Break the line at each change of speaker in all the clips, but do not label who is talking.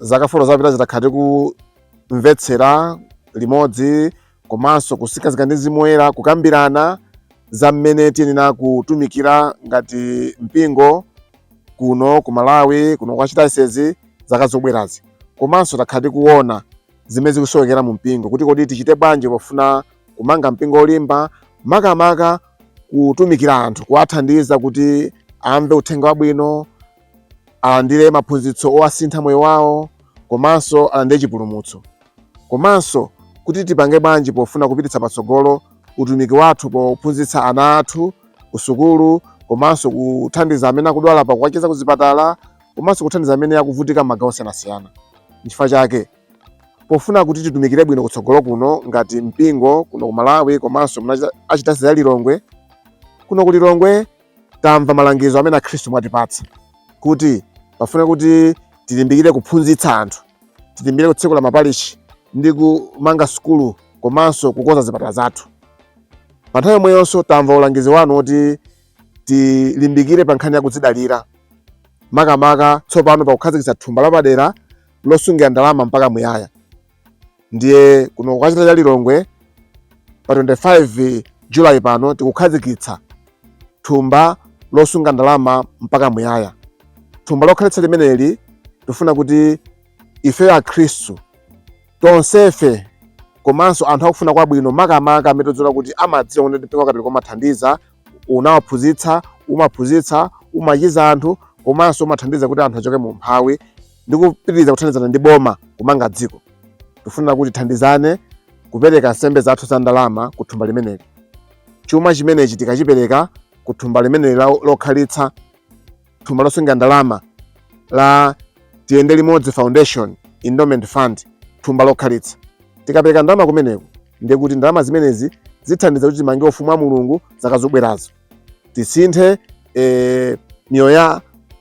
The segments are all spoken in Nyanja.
zaka folo zapitazi takhala tikumvetsera limodzi komanso kutsikiridwa ndi mzimu woyera kukambirana za mmene tiyenera kutumikira ngati mpingo kuno ku malawi kuno ku Archdiocese zaka zobwerazi komanso takhala tikuona zimene zikusowekera mu mpingo kuti kodi tichite bwanji pofuna kumanga mpingo olimba makamaka kutumikira anthu kuwathandiza kuti amve uthenga wabwino alandire maphunzitso owasintha moyo wawo komanso alandire chipulumutso komanso kuti tipange bwanji pofuna kupititsa patsogolo utumiki wathu pophunzitsa ana athu kusukulu komanso kuthandiza amene akudwala pakuwachiza kuzipatala komanso kuthandiza amene akuvutika m'magawo osiyanasiyana nchifukwa chake pofuna kuti titumikire bwino kutsogolo kuno ngati mpingo kuno ku Malawi komanso Archdiocese ya Lilongwe kuno ku Lilongwe tamva malangizo amene akhristu mwatipatsa kuti pofuna kuti tilimbikire kuphunzitsa anthu tilimbikire kutsekula mapalishi ndi kumanga sukulu komanso kukonza zipatala zathu pa nthawi yomweyonso tamva ulangizi wanu woti tilimbikire pa nkhani ya kudzidalira makamaka tsopano pakukhazikitsa thumba lapadera losungira ndalama mpaka muyaya ndiye kuno ku Archdiocese ya Lilongwe pa 25 July pano tikukhazikitsa thumba losunga ndalama mpaka muyaya. Thumba lokhalitsa limeneli tifuna kuti ifeyo Akhristu tonsefe komanso anthu akufuna kwabwino makamaka amene tidziwa kuti amadziwa kuti mpingo wa Katolika umathandiza, unawaphunzitsa, umaphunzitsa, umachiza anthu komanso umathandiza kuti anthu achoke mu umphawi. ndi kupitiriza kuthandizana ndi boma kumanga dziko. Tikufuna kuti tithandizane kupereka nsembe zathu za ndalama ku thumba limeneli. Chuma chimenechi tikachipereka ku thumba limeneli lokhalitsa, thumba losungira ndalama la Tiyende Limodzi Foundation Endowment Fund, thumba lokhalitsa. Tikapereka ndalama kumeneko, ndiye kuti ndalama zimenezi zithandiza kuti timange Ufumu wa Mulungu zaka zobwerazo. tisinthe e, miyoyo ya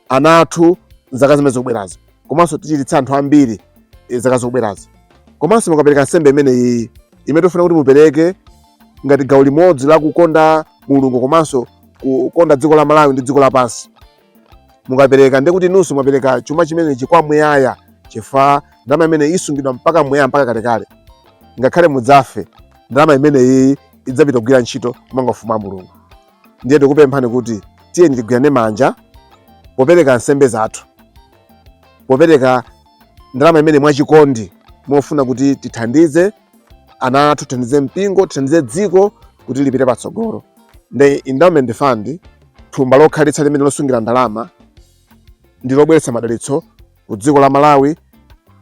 ana athu zaka zimene zikubwerazo komanso tichiritse anthu ambiri e, zaka zikubwerazo komanso mukapereka nsembe imeneyi imene tofuna kuti mupereke ngati gawo limodzi la kukonda mulungu komanso kukonda dziko la malawi ndi dziko lapansi mukapereka ndiye kuti inunso mwapereka chuma chimenechi kwa muyaya chifukwa ndalama imeneyi isungidwa mpaka muyaya mpaka kalekale ngakhale mudzafe ndalama imeneyi idzapita kugwira ntchito kumanga ufumu wa mulungu ndiye tikupemphani kuti tiyeni tigwirane manja popereka nsembe zathu popereka ndalama imeneyi mwachikondi mofuna kuti tithandize ana athu, tithandize mpingo, tithandize dziko kuti lipite patsogolo. Ndi endowment fund, thumba lokhalitsa limene losungira ndalama ndi lobweretsa madalitso ku dziko la Malawi,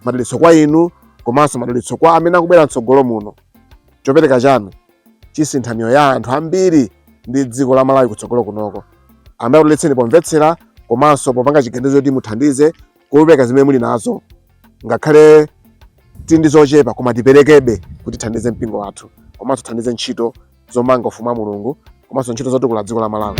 madalitso kwa inu komanso madalitso kwa amene akubwera mtsogolo muno. Chopereka chanu chisintha miyoyo ya anthu ambiri ndi dziko la Malawi kutsogolo kunoko. Ambuye akudalitseni pomvetsera komanso popanga chiganizo kuti muthandize kupereka zimene muli nazo ngakhale tili ndi zochepa koma tiperekebe kuti tithandize mpingo wathu komanso tithandize ntchito zomanga ufumu wa mulungu komanso ntchito zotukula dziko la malawi